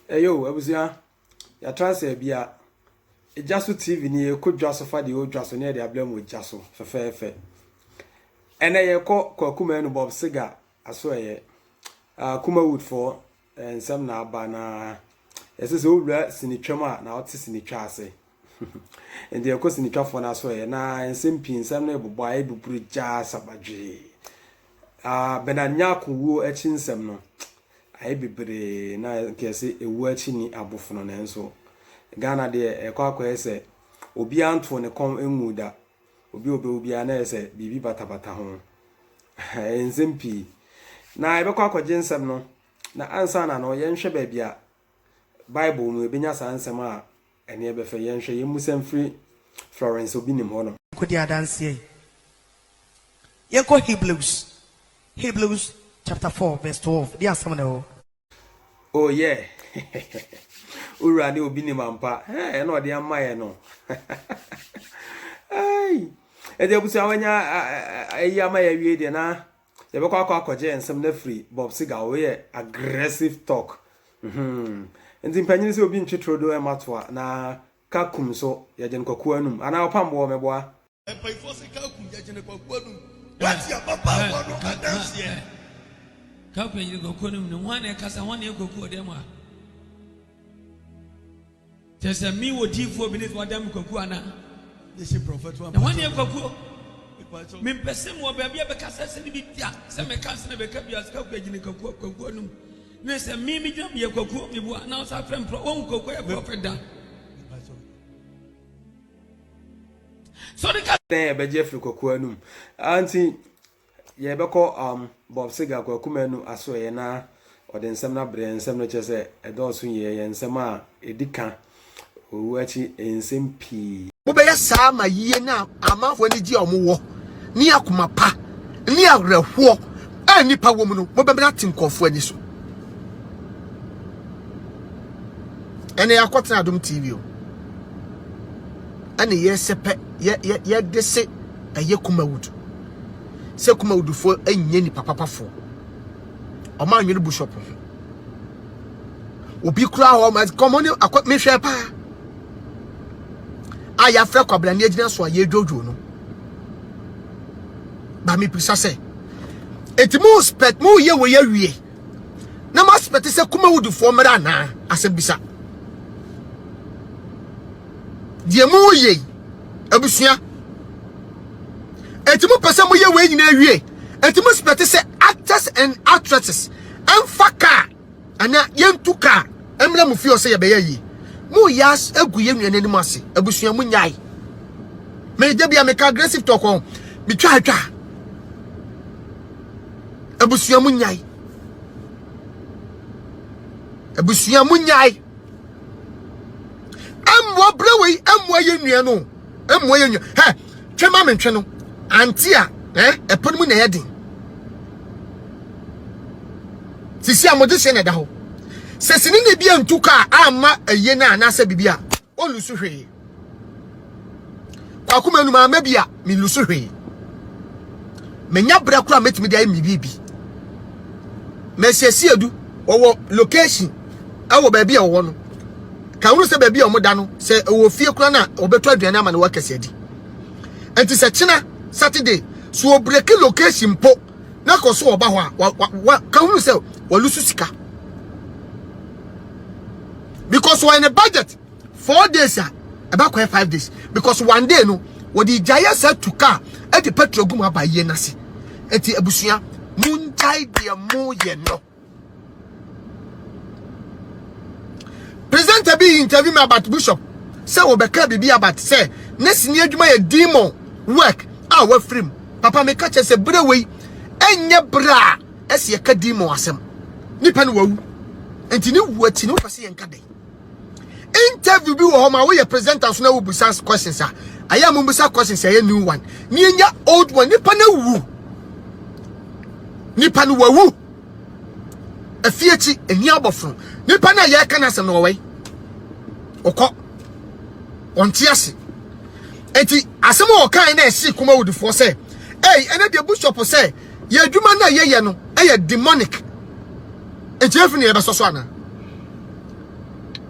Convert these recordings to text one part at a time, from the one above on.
ɛyɛ o abusua yɛatra sɛ bia ɛgya so tv ni yɛkɔ dwa so fa deɛ ɔdwa so ne yɛde abrɛ mu gya so fɛfɛɛfɛ ɛnɛ yɛkɔ kwakuma no bob siga aso ɛyɛ uh, kuma woodfoɔ Nsɛm na aba na ɛsɛ sɛ owura sinitwa mu a na ɔte sinitwa ase. Nti ɛkɔ sinitwafoɔ no aso ɛ na nsɛm pii nsɛm no ɛbobɔ ayɛ buburu gyaa sabadwee. Ah, Bernard Nyako wuo akyi nsɛm no ayɛ bebree na nkɛse ɛwuo akyi ni abofono nanso Ghana deɛ ɛkɔ akɔyɛ sɛ obiara ntoo ne kɔn nguu da Obi a ɔbɛwu biara na ayɛ sɛ biribi batabata ho. Ɛyɛ nsɛm pii. Na yɛbɛkɔ akɔgye nsɛm no, na ansa na no yɛnhwɛ baabi a Bible mu yɛbɛnya saa nsɛm a ɛne ɛbɛfɛ. Yɛnhwɛ, yɛmmisa mfiri Florence Obi Nim hɔ no. Kɔdi adanseɛ yi. Yɛnkɔ Hebrews, Hebrews chapter four verse twelve, deɛ asɛm no wɔ hɔ. Oh yeah. Owura ne obi nim ampa. Hey, ɛna ɔde ama yɛ no. Hey. Ɛde abusua wanya ɛyi ama yɛ wie deɛ na yɛbɛkɔ akɔ akɔgye nsɛm na firi Bob Siga wo yɛ aggressive talk. Mhm. Nti mpanyin sɛ obi ntwe trodo ɛma toa na ka kum so yɛgye no kɔkɔɔ anum anaa ɔpam boɔ mɛboa. Mpaifo se Kaku yɛgyene kwaku anum. Wate ababaawa no adanseɛ. Kaku yɛgyene kwaku anum no hwan na ɛkasa hwan na ɛyɛ kwaku wɔ dɛm a? Kyɛ sɛ me wɔ diifoɔ bi ne wada me kwaku ana? Na hwan na ɛyɛ kwakuo? Mempɛ sɛ mewɔ baabi a bɛkasa sɛ ne bi da sɛ meka sɛ na bɛka bi ase kaku agyine kwaku kwaku anum ne sɛ me medwa meyɛ kwakuo mebua na wo sa frɛ mprɔ wahu kwaku ayɛ prɔfɛt da So ɔde ka. Dɛn yɛbɛgye afiri Kwaku anum? Ah nti yɛbɛkɔ um, Bob Seger, Kwaku Manu asoɛeɛ na ɔde nsɛm no abrɛ yɛn. Nsɛm no kyerɛ sɛ ɛdɔɔso yie, ɛyɛ nsɛm a ɛdi ka, owuo akyi nsɛm pii. Wobɛyɛ saa ma yie ne amanfoɔ anigyeɛ a wɔwɔ ne akoma pa ne awerɛhoɔ a nnipa wɔ mu no, mobɛmene ate nkurɔfoɔ ani so. Ɛnɛ yɛakɔtena Adom TV o. ɛna yɛsɛpɛ yɛ yɛ yɛde se ɛyɛ kumawudu sɛ kumawudufoɔ nyɛ nipa papafoɔ ɔmo anwene bishop ho obi kura hɔ ma kɔmɔ ne akɔ mehwɛ paa a yɛafrɛ kwabena ne agyina so a yɛdwodwo no ba mepisa sɛ enti mo spɛt mo yɛ wɔ yɛ wie na mo aspɛte sɛ kumawudifoɔ mmra anaa asɛm bisa deɛ mo yɛ yi abusua ɛti mo pɛ sɛ mo yɛ wei nyinaa wie ɛti mo aspɛte sɛ actors and actresses ɛmfa kaa anaa yɛntu kaa ɛmra mo fie ɔsɛ yɛbɛyɛ yie mo yɛ agu yɛ nnuane anim ase abusua mo nyae mede bia meka aggressive talk on metwa atwa abusua mu nyae abusua mu nyae ɛmmoa berɛ wei ɛmmoa yɛ nnua no ɛmmoa yɛ nnua hɛ twɛ ma mentwe no ante a ɛpono mu na ɛyɛ den sisi a mode hyɛ na ɛda hɔ sɛ sini na ebi antu kaa ama ɛyɛ no anaasɛ biribi a Ɔnlusu hwee. Kwaku Manu maa mɛ bi a, menlusu hwee. Menya berɛ koraa mɛtumi de ayɛ me biribi. Mɛsiesie adu, wɔwɔ location ɛwɔ baabi a wɔwɔ no. Ka hunu sɛ baabi a wɔda no, sɛ ɛwɔ fie koraa no a, wɔbɛtɔ aduane ama no wɔakɛse adi. Nti sɛ kyena Saturday, so wɔbreki location mpo, na kɔ so ɔba hɔ a wa wa wa ka hu sɛ walusu sika because wɔyɛ ne budget four days a ɛba kɔɛ five days because one day no wɔde gya yɛ sɛ tu kaa ɛde petrol gu mu aba yie n'ase eti abusua mo ngyae deɛ mo yɛ no. Presenter bi interview me about Bishop sɛ wɔbɛka biribi about sɛ ne sini adwuma yɛ demon work a wafiri mu. Papa meka kyerɛ sɛ berɛ wei ɛnyɛ berɛ a ɛsɛ yɛka demon asɛm. Nipa no wawu. Nti ne wu akyi no wopɛ sɛ yɛnka dɛn? interview bi wɔ hɔ ma woyɛ presenter so na wobusa questions a ɛyɛ a mobusa questions a ɛyɛ new one na yɛnya old one nipa no awu nipa no wawu afie akyi ɛni abɔfono nipa no a yɛreka no asɛm no wɔwɛi ɔkɔ ɔnte ase enti asɛm a ɔkae na ɛhyee kɔma wodifoɔ sɛ ei ɛnɛ deɛ bishop sɛ yɛ adwuma no a yɛyɛ no yɛ demonic nti efi ne yɛbɛsɔ so ana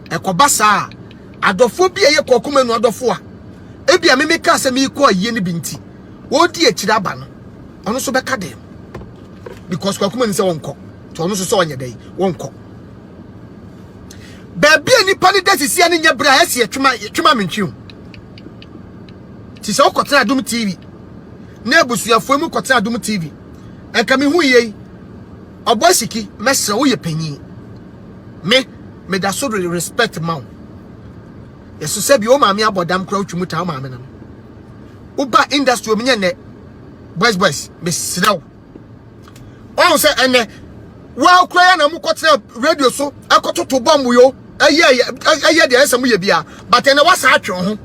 ɛkɔba saa adɔfoɔ bi a yɛ kɔɔ kɔma nu adɔfoɔ a ebi a meme kaa sɛ meekɔ ayie no bi nti wɔredi akyiri aba no ɔno nso bɛka dɛm because kɔɔ kɔma nu sɛ wɔnkɔ nti ɔno nso sɛ ɔnyɛ dɛn wɔnkɔ baabi a nipa ne da sisia ne nyɛ berɛ a ɛsi ɛtwema ɛtwema mentwi o ti sɛ wokɔtena adom tv ne abusuafoɔ mu kɔtena Adom TV. Nka me hu yei. Ɔbɔ asiki, mɛsrɛ woyɛ panyin. Me, meda so de respect ma wo. Yɛso sɛ bi wo maame abɔ dam kora wotwi mu taa wo maame nam. Woba industry omi nyɛ nnɛ. Boys boys, mesrɛ wo. ɔhu sɛ ɛnɛ waa kura yɛ na mo kɔtena radio so ɛkɔtoto bɔmbo yo ɛyɛ ɛyɛ deɛ ɛsɛ mo yɛ bia but ɛnɛ wasa atwe ho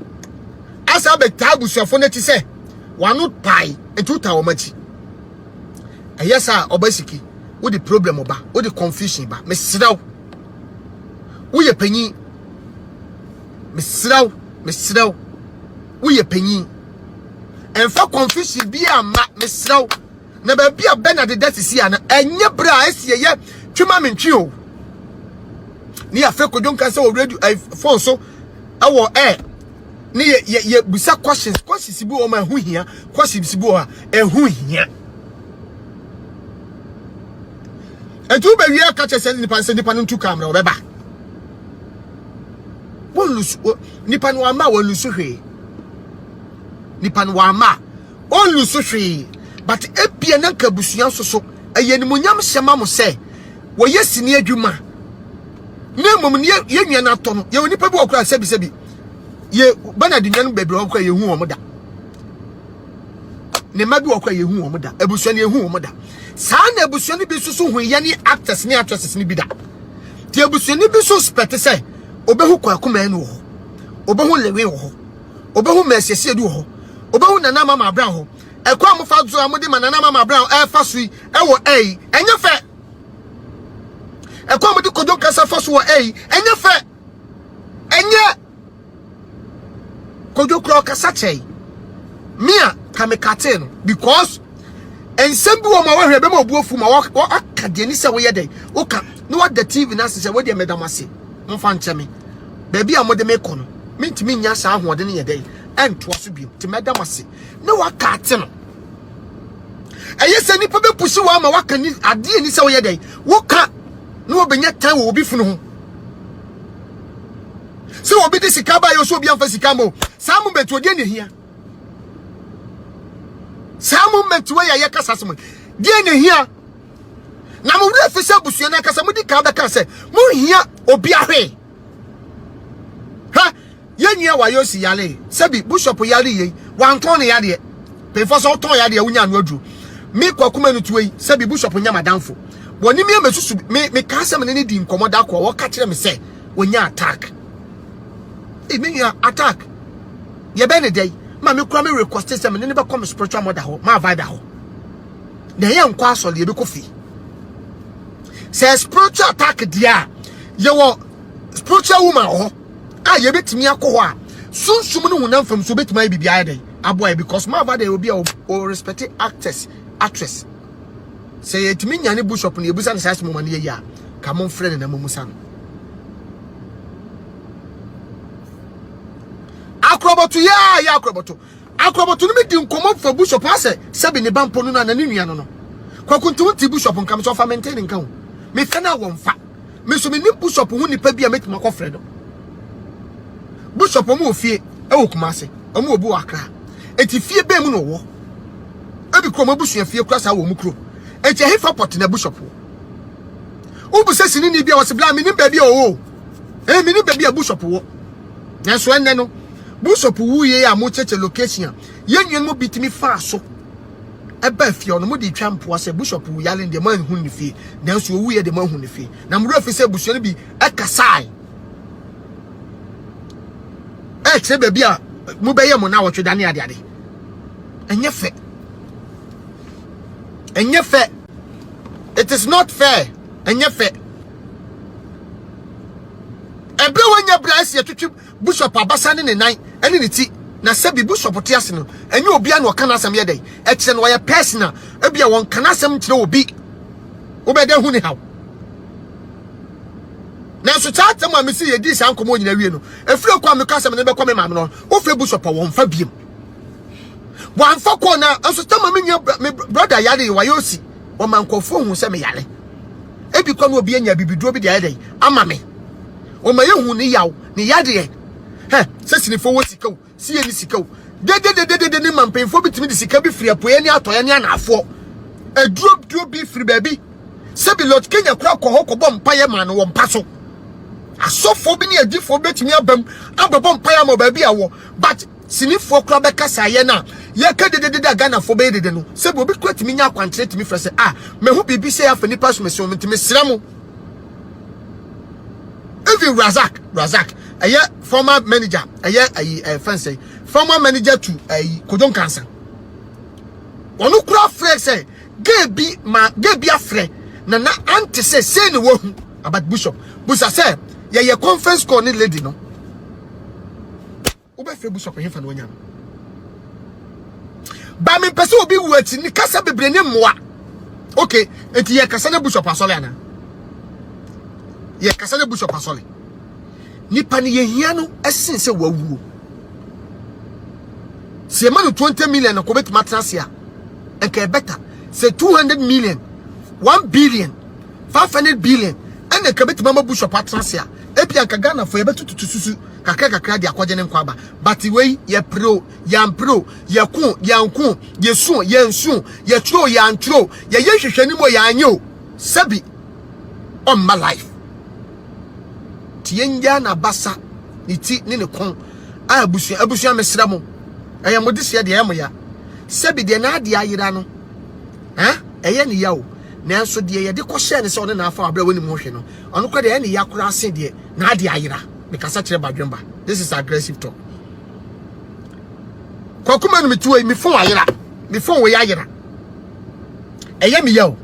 asa abɛtaa abusuafo no ti sɛ wano pae nti wota wɔn akyi ɛyɛ saa ɔba siki wode problem ɔba wode confusion ba mesrɛ wo woyɛ panyin mesrɛ wo mesrɛ wo woyɛ panyin ɛmfa confusion bi a ma mesrɛ wo na baabi a bernard da sisi a na ɛnyɛ berɛ a ɛsi ɛyɛ twema me ntwe o ne yɛafrɛ kodwo nka sɛ wɔ radio eh, phone so ɛwɔ air ne yɛbusa questions questions bi wɔ ma ɛho hia questions bi wɔ a ɛho hia ɛnti wobɛwie aka kyɛ sɛ nipa sɛ nipa no ntu kamera ɔbɛba wɔn lusu wɔ nipa no ama wɔn lusu hwee nipa no ama wɔn lusu hwee but ebien na nka abusua nso so ɛyɛ nimunyam hyɛ ma mo sɛ wɔyɛ sini adwuma na mmom ne yɛ nua no atɔ no yɛ wɔ nipa bi wɔ kora sɛbisɛbi yɛ bɛnadi nua no baabi wɔ kora yɛ hu wɔn da. ne mma bi wɔ kɔ a yɛhu wɔn da abusua no yɛhu wɔn da saa na abusua no bi nso so hu yɛ ne actors ne actresses no bi da te abusua no bi nso spɛte sɛ obehu kwaku mɛn wɔ hɔ obehu lewe wɔ hɔ obehu mɛsiesie du wɔ hɔ obehu nana mama abira hɔ ɛkɔ a mofa so a mode ma nana mama abira ɛfa so yi ɛwɔ ɛyi ɛnyɛ fɛ ɛkɔ a mode kodwo nkasa fa so wɔ ɛyi ɛnyɛ fɛ ɛnyɛ Kojo kura ɔkasa kyɛe. Me a ka me katee no because nsɛm bi wɔ ma wɔhwɛ bɛma obu afu ma wɔaka deɛ ni sɛ woyɛ dɛn woka na wada tv no ase sɛ wodeɛ meda mo ase momfa nkyɛ me baabi a mode me kɔ no mentumi nya saa ahoɔden no yɛ dɛn ɛntoa so biom nti mɛda mo ase na waka ate no ɛyɛ sɛ nnipa bɛpusi wɔ ama waka ni adeɛ ni sɛ woyɛ dɛn woka na wɔbɛnya tan wɔ obi funu ho Sɛ obi de sika ba yɛ so obi amfa sika mo. Saa moment wo deɛ ne hia. Saa moment wo yɛ yɛ kasa sɛ mo. Deɛ ne hia. Na mo wura fi sɛ busua na kasa mo di kan bɛka sɛ mo hia obi ahwe. Ha, yɛ nua wa yɛ si yale. Sɛ bi bishop yale yɛ. Wantɔn ne yadeɛ. Pefo sɛ wotɔn yadeɛ wonya no aduro. Me kwa kuma no tuwe sɛ bi bishop nya madamfo. Wɔne me amesusu me me ka sɛ me ne ne di nkɔmɔ da ko a wɔka kyerɛ me sɛ wɔnya attack ee me nua attack yɛbɛ ne dɛn ma me kura me request sɛ me ne ne bɛkɔ me spiritual mother hɔ ma vibe hɔ na yɛ nkɔ asɔre yɛbɛkɔ fi sɛ spiritual attack deɛ a yɛwɔ spiritual woman hɔ a yɛbɛtumi akɔ hɔ a sunsum no honam fam so bɛtumi ayɛ biribi ayɛ dɛn aboa yɛ because ma vibe yɛ obi a o respect actors actress sɛ yɛtumi nya ne bishop no yɛbusa no saa asɛm ma no yɛyi a ka mo mfrɛ no na momusa no akorɔbɔto yɛ a yɛ akorɔbɔto akorɔbɔto no medi nkɔmmɔ fa bishop asɛ sɛbi ne ba mpo no na ne nua no no kwakuntum nti bishop nkam sɛ ɔfa mente ne nka ho mefɛ no a wɔmfa me nso menim bishop ho nipa bi a mɛtumi akɔfrɛ no bishop ɔmo wɔ fie ɛwɔ kumase ɔmo wɔ bi wɔ akra eti fie bɛn mu na ɔwɔ ebi kura ɔmo abusua fie kura saa wɔ ɔmo kuro eti ɛhefa pɔt na bishop wɔ wobu sɛ sinini bi a wɔsi bla menim baabi a ɔwɔ ɛyɛ menim baabi a bishop wɔ nanso ɛnɛ no bishop wuye a mo kyekye location yɛn nua no mu bitumi faa so ɛbaa fie hɔ no, mode twa mpoa sɛ Bishop wu yale no deɛ moanhunu ne fie, nanso ɔwuiɛ deɛ moahunu ne fie. Na mo werɛ fi sɛ abusua no bi ɛkasae ɛkyerɛ baabi a mobɛyɛ mo na wɔtwe dane adeade. Ɛnyɛ fɛ. Ɛnyɛ fɛ. It is not fair. Ɛnyɛ fɛ. Ɛberɛ wɔnyɛ berɛ ɛsi ɛtwitwi Bishop abasa ne ne nan ne ne ti na sɛbi bishop te ase no ɛnyɛ obia na ɔka n'asɛm yɛ dɛn ɛkyerɛ no ɔyɛ person a ebia wɔnka n'asɛm nkyerɛ obi wobɛda hu ne haw nanso saa atɛm a mesi yɛdi saa nkɔmɔ nyina wie no ɛfiri ɛkɔ a meka asɛm no bɛkɔ me maame no wofɛ bishop a wɔmfa biem wɔamfa kɔɔ na nso tama me nua me brɔda yare wayɛ osi wɔma nkɔfoɔ hu sɛ meyare ebi kɔ no obi anya bibiduro bi de ayɛ dɛn ama me ɔma yɛhu ne yaw, ne yadeɛ. Hɛ, sɛ sinifoɔ wɔ sika o, sɛ yɛnni sika o, dedededede ne ma mpanyinfoɔ bi tumi de sika bi firi apueɛ ne atɔeɛ ne anaafoɔ. Aduro duro bi firi baabi. Sɛbi Lord Kenya koraa kɔ hɔ kɔbɔ mpaeɛ maa no wɔ mpa so. Asɔfoɔ bi ne adifoɔ bɛtumi abam abɛbɔ mpaeɛ ama baabi a wɔ but sinifoɔ koraa bɛka saa yɛ no a yɛka dededede a ghanafoɔ bɛyɛ dede no sɛ bi obi kora tumi nya akwankyerɛ tumi frɛ sɛ a mahu biribi sɛ afa nipa so mesɛ wɔn nti mesrɛ mo even razak razak ɛyɛ former manager ɛyɛ ayi ɛfɛn sɛ former manager to ayi kodon kansa wɔn kora frɛ sɛ gay bi ma gay bi afrɛ na na ante sɛ sɛ ne wɔhu about bishop busa sɛ yɛyɛ conference call ne lady no Wobɛfrɛ bishop hefa na wanya no? Ba mempɛ sɛ obi wu akyi ne kasa bebree ne mmoa. Okay, enti yɛ kasa ne bishop asɔre ana? Yɛ kasa ne bishop asɔre. Nipa ne yɛhia no ɛsen sɛ wawuo. Sɛ yɛma no 20 million na kɔ bɛtumi atena ase a, ɛka ɛbɛta. Sɛ 200 million, 1 billion, 500 billion, ɛna ɛka bɛtumi ama bishop atena ase a, Ebia anka Ghanafoɔ yɛbɛtututu susu kakra kakra de akɔgye ne nkwa aba. But wei yɛpere o, yɛampere o, yɛko o, yɛanko o, yɛsu o, yɛansu o, yɛtwerɛ o, yɛantwerɛ o, yɛyɛ nhwehwɛnim o, yɛanyɛ o, sɛbi ɔmma life. Nti yɛnyaa n'abasa, ne ti ne ne kɔn a abusua abusua mesrɛ mo ɛyɛ mo deseɛ deɛ ɛyɛ mo ya. Sɛbi deɛ n'adeɛ ayera no ɛyɛ ne ya o, nanso deɛ yɛde kɔhyɛɛ ne sɛ ɔne n'afa wɔ aberɛ a wɔnim ho hwɛ no Ɔno kɔ deɛ ɛne ya koraa se deɛ na ade ayera me kasa kyerɛ badwemba this is aggressive talk kwakuma no metuo me phone ayera me phone wei ayera ɛyɛ me ya o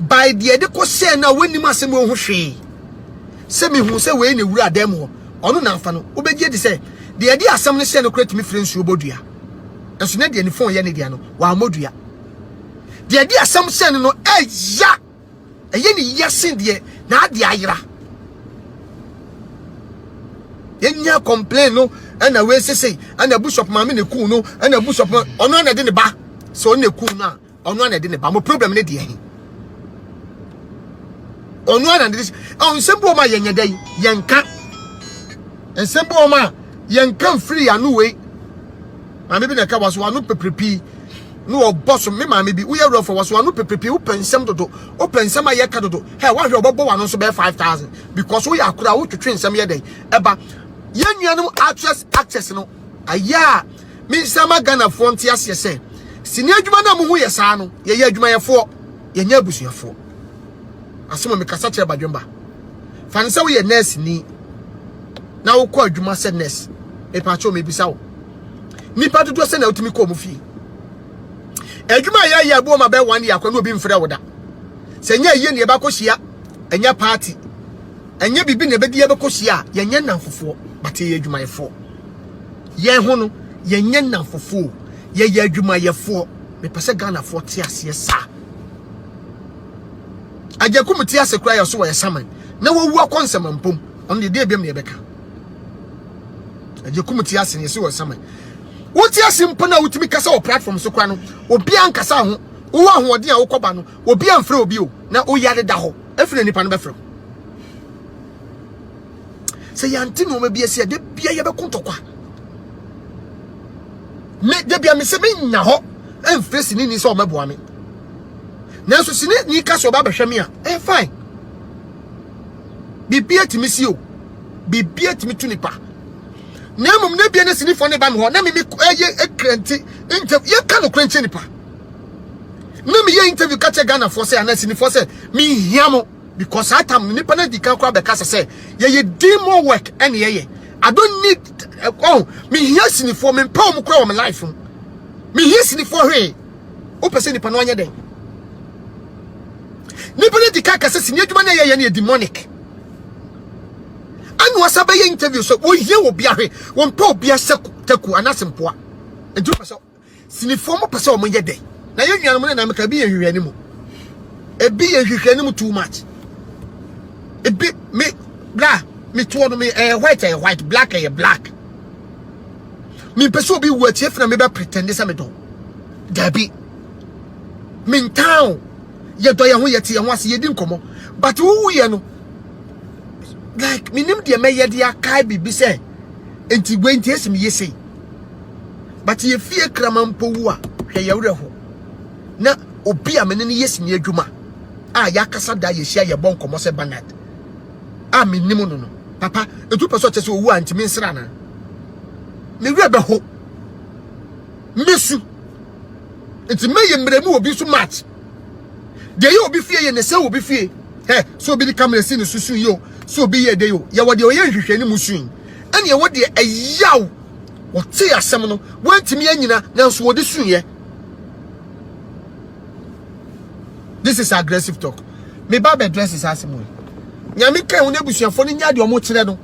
by deɛ de kɔ sɛ na wɔnim asɛm wɔ ho hwee sɛ mehu sɛ wei na ewura dan mu hɔ ɔno na afa no wobɛgye de sɛ deɛ de asɛm no sɛ no kora tumi firi nsuo bɔ dua ɛso ne deɛ ne phone yɛ ne deɛ no wɔammɔ dua deɛ de asɛm sɛ no no ɛya ɛyɛ ne yia sen deɛ n'ade ayera yɛnya complain no ɛna wei sesei ɛna bishop maame na eku no ɛna bishop ɔno ɛna ɛde ne ba sɛ ɔno na eku no a ɔno ɛna ɛde ne ba mo problem ne deɛ he ɔno ɛna ɛde ɔn nsɛm bi wɔn a yɛnyɛ dɛ yɛnka nsɛm bi wɔn a yɛnka mfiri ano wei maame bi na ɛka wa so ano pepere pii. na ɔbɔ so. Me maame bi, woyɛ werɛfoɔ, wɔso w'ano pɛpɛpie, wopɛ nsɛm dodo, wopɛ nsɛm a yɛka dodo, hɛ, woahwɛ ɔbɛbɔ w'ano nso bɛyɛ 5000 because woyɛ akora a wotwetwe nsɛm yɛ dɛn ɛba. Yɛn nuanom actress actors no, ayɛ a mensɛ ma Ghanafoɔ nte aseɛ sɛ sini adwuma no a mohu yɛ saa no, yɛyɛ adwumayɛfoɔ, yɛnyɛ abusuafoɔ. Asɛm a mekasa kyerɛ Badwemba, fa no sɛ woyɛ nɛɛseni na wokɔ adwuma sɛ nɛɛse, mepaakyɛw mebisa wo, nipa dodoɔ sɛ na wotumi kɔ ɔmo fie adwuma a yɛayɛ abuo ma bɛyɛ one year akɔ ne obi mfrɛ wo da sɛ nyɛ ayie ne yɛbɛakɔ hyia ɛnyɛ party ɛnyɛ biribi na ɛbɛdi yɛbɛkɔ hyia a yɛnyɛ nnamfofoɔ but yɛyɛ adwumayɛfoɔ yɛn ho no yɛnyɛ nnamfofoɔ yɛyɛ adwumayɛfoɔ mepɛ sɛ ghanafoɔ te aseɛ saa agyakum te ase koraa yɛ so wɔyɛ saman na wɔwu akɔ nsɛmampom ɔno deɛ deɛ biam ne yɛbɛka ɛyɛ kum ti ase na yɛsi wɔ nsɛmɛ wote ase mpo na wotumi kasa wɔ platform so kora no obi ankasa ho wowɔ ahoɔden a wokɔba no obi amfrɛ obi o na woyɛ deda hɔ ɛfiri na nipa no bɛfrɛ sɛ yɛante nneɛma bi asi a da bia yɛbɛko ntɔkwa me da bia me sɛ menya hɔ ɛmfrɛ sini ni sɛ ɔmɛboa me nanso sini ni ka sɛ ɔba bɛhwɛ me a ɛyɛ fine biribi atumi si o biribiara tumi tu nipa na mmom na bia ne sinifoɔ ne ba me hɔ na meme ɛyɛ ɛkrɛnti interview yɛka nokorɛ nkyɛ nipa na meyɛ interview ka kyɛ ghanafoɔ sɛ anaa sinifoɔ sɛ menhia mo because saa tam no nipa no adi kan koraa bɛka sɛ sɛ yɛyɛ demo work ɛne yɛyɛ I don't need eh, oh mehia sinifoɔ mempɛ wɔn koraa wɔ me life mu mehia sinifoɔ hwee wopɛ sɛ nipa no anyɛ dɛn nipa no adi kan ka sɛ sini adwuma no ɛyɛyɛ no yɛ demonic ɛna wɔsa bɛyɛ interview sɛ wɔhia wɔ bia hwe wɔmpɛ obia sɛ taku anase mpoa ɛnti wɔpɛ sɛ sinifoɔ mo pɛ sɛ wɔn yɛ dɛ na yɛ nuanom no na meka ebi yɛ nhwehwɛ anim ebi yɛ nhwehwɛ anim too much ebi me bla me toɔ no me ɛyɛ white ɛyɛ white black ɛyɛ black me mpɛ sɛ obi wu akyi efina me bɛ pretend sɛ me dɔn dabi me ntaa o. yɛdɔ yɛn ho yɛte yɛn ho ase yɛdi nkɔmmɔ but wowuyɛ no like menim deɛ mɛyɛ de akae biribi sɛ nti wei nti ɛsi meyɛ sei but yɛfie krama mpo wu a hwɛ yɛwerɛ ho na obi a mene no yɛ sini adwuma a yɛakasa da yɛhyia yɛbɔ nkɔmmɔ sɛ banad a menim no no papa ɛtu pɛ sɛ ɔkyɛ sɛ ɔwu a ntimi nsra no mewerɛ bɛho mesu nti mɛyɛ mmerɛmu wɔ obi nso match deɛ yɛ obi fie yɛ ne sɛ obi fie hɛ sɛ obi de kamera si ne so sun yɛ o sɛ obi yɛ de o yɛwɔ deɛ ɔyɛ nhwehwɛ ne mu sun ɛne ɛwɔ deɛ ɛyaw wɔte asɛm no wɔntumi anyina nanso wɔde sun yɛ this is aggressive talk me ba bɛ dress saa asɛm yi nyame kan wɔn abusuafoɔ no nya deɛ wɔn kyerɛ no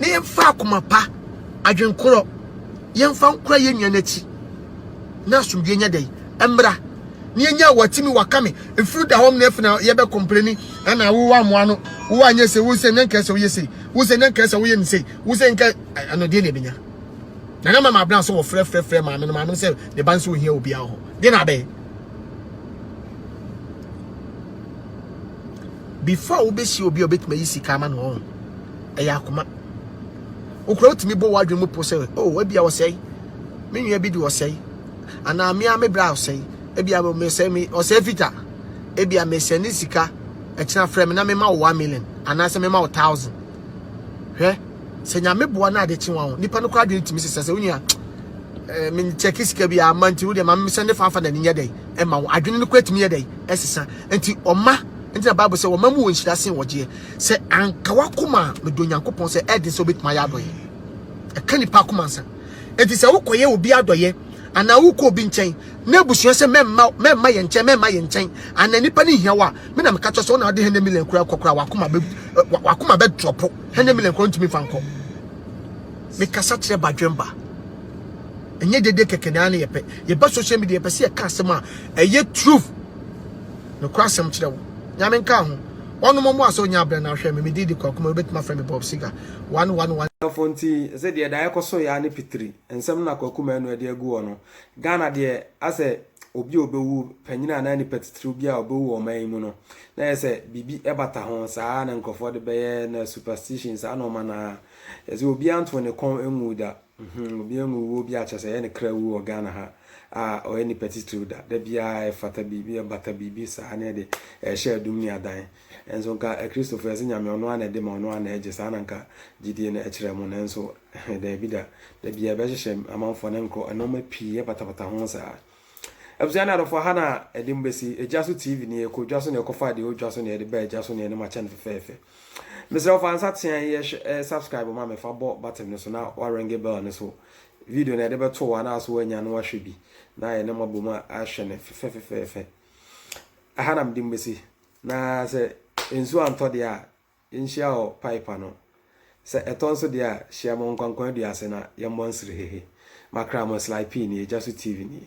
ne yɛn fa akoma pa adwenkorɔ yɛn fa nkora yɛn nua n'akyi. na asomdwoe nyɛ dɛn mmra na yɛnya watimi waka me mfiri da hɔm na afei na yɛbɛ kɔmpleni ɛna wo wa mmoa no wo wa nyɛ sɛ wo sɛ nyanka sɛ woyɛ sɛ wo sɛ nyanka sɛ woyɛ ne sɛ wo sɛ nka ɛno deɛ na ɛbɛnya na na mama abena sɛ wɔfrɛfrɛfrɛ maame no maame no sɛ ne ba nso ohia obi ahɔ deɛ na abɛyɛ before wobɛsi obi a obɛtumi ayi sika ama no ɔho ɛyɛ akoma wokura wotumi bɔ w'adwene mu po sɛ o oh, wabi a wɔsɛe me nua bi de ɔsɛe anaa me a me bra ɔsɛe ebia me mesɛe me ɔsɛe fita ebia mesɛe ne sika ɛkyina frɛ me na mema wo 1 million anaasɛ mema wo 1000 hwɛ sɛ nyame boa na ade kye wa ho nipa no kora adwene tumi sesa sɛ onua eh, me check sika bi ama nti wo de ma me sɛ ne fanfa na ne nyɛ dɛn ɛma wo adwene no kora tumi yɛ dɛn ɛsesa nti ɔma nti na bible sɛ ɔma mu wɔ nhyira sen wɔgyeɛ sɛ anka wakoma a medɔ nyankopɔn sɛ ɛden sɛ wobɛtumi ayɛ adɔyɛ ɛka nipa akoma nsa Enti sɛ wokɔyɛ obi adɔeɛ anaa wokɔ obi nkyɛn na abusua sɛ mɛmma mɛmma yɛn nkyɛn mɛmma yɛn nkyɛn anaa nipa no hia wo a me na meka kyerɛ sɛ wo na wode hɛnɛ million kura kɔ kura wakoma bɛ wakoma bɛ drɔpo hɛnɛ million kura ntumi fa nkɔ mekasa kyerɛ badwemba ɛnyɛ dede kɛkɛ na ne yɛpɛ yɛba social media yɛpɛ sɛ yɛka asɛm a ɛyɛ truth no kura asɛm kyerɛ wo nyame nka ho Ɔnom ɔmo a sɛ onya abrɛ no a hwɛ me me din de Kwaku Mary wobɛtumi afrɛ me Bob Seger one one one. Ghanafoɔ nti ɛsɛ deɛ daa ɛkɔ so yɛ ara ne pitiri nsɛm no na Kwaku Manu ɛde agu hɔ no. Ghana deɛ asɛ obi a ɔbɛwu, panyin anaa nipa titiriw bi a ɔbɛwu wɔ ɔman yi mu no na ɛyɛ sɛ biribi ɛbata ho saa ara na nkorɔfoɔ de bɛyɛ na superstition saa nnoɔma no ara. Ɛsɛ obiara ntoo ne kɔn nguu da. Mhmm obi amu wuo bi a kyerɛ sɛ ɛyɛ ne kra wuo wɔ Ghana ha a ɔyɛ nipa titiriw da, da biara ɛfata biribi ɛbata biribi saa ne ɛde ɛrehyɛ adum ne adan nso nka akristofo yɛse Nyame ɔno ara na ɛde ma ɔno ara na ɛgye saa na nka gyidie no ɛkyerɛ mo nanso daabi da, da biara ɛbɛhyehyɛ amanfoɔ ne nkorɔ nnoɔma pii ɛbatabata ho saa. Abusua ne adɔfo, ha na ɛde mo besi. Gya so TV ni, ɛkɔ dwa so na ɛkɔ fa deɛ ɛwɔ dwa so na ɛde ba ɛgya so na ɛne mo akyɛ no fɛfɛɛfɛ. Mesrɛ wo fa nsa teaa yi ɛhwɛ ɛ subscribe ma me fa bɔ button no so na wa ringe bell no so video na ɛde bɛto wa na so wanya no ahwɛ bi na yɛne mo abom ahwɛ no fɛfɛfɛfɛ. Aha na mede mo besi na sɛ nsuo antɔ deɛ a yɛnhyia wɔ pipe ano. Sɛ ɛtɔ nso deɛ a, hyia mo Nkwankwan dua ase na yɛmmɔ nsrehehe. M'akra mo Sly P nie, Gya So TV nie.